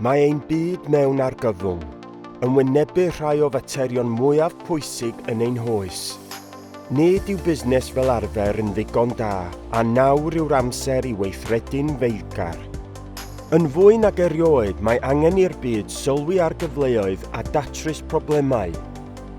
Mae ein byd mewn argyfwng, yn wynebu rhai o faterion mwyaf pwysig yn ein hoes. Nid yw busnes fel arfer yn ddigon da, a nawr yw'r amser i weithredu'n feiddgar. Yn fwy nag erioed, mae angen i'r byd sylwi ar gyfleoedd a datrys problemau.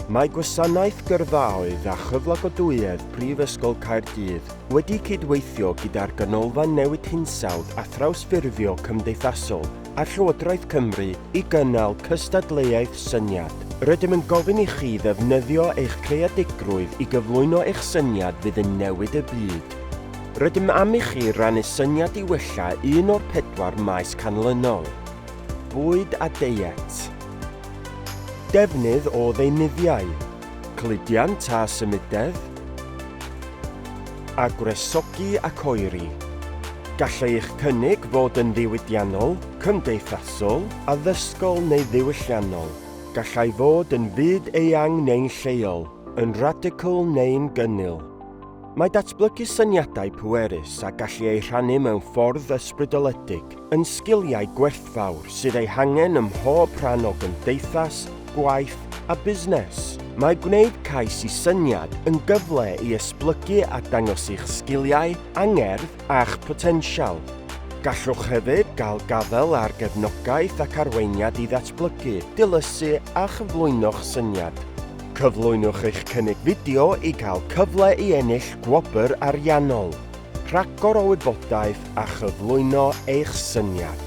Mae Gwasanaeth Gyrfaoedd a Chyflogadwyedd Prifysgol Caerdydd wedi cydweithio gyda'r Ganolfan Newid Hinsawdd a Thrawsffurfio Cymdeithasol a Llywodraeth Cymru i gynnal cystadleuaeth syniad. Rydym yn gofyn i chi ddefnyddio eich creadigrwydd i gyflwyno eich syniad fydd yn newid y byd. Rydym am i chi rannu syniad i wella un o'r pedwar maes canlynol, Bwyd a Deiet, Defnydd o ddeunyddiau, cludiant a symudedd, a gwresogi ac oeri. Gall eich cynnig fod yn ddiwydiannol, cymdeithasol, addysgol neu ddiwylliannol. Gallai fod yn fyd eang neu'n lleol, yn radical neu'n gynnil. Mae datblygu syniadau pwerus a gallu eu rhannu mewn ffordd ysbrydoledig yn sgiliau gwerthfawr sydd eu hangen ym mhob rhan o gymdeithas, gwaith a busnes. Mae gwneud cais i syniad yn gyfle i esblygu a dangos eich sgiliau, angerdd a'ch potensial. Gallwch hefyd gael gafael ar gefnogaeth ac arweiniad i ddatblygu, dilysu a chyflwyno'ch syniad. Cyflwynwch eich cynnig fideo i gael cyfle i ennill gwobr ariannol, rhagor o wybodaeth a chyflwyno eich syniad.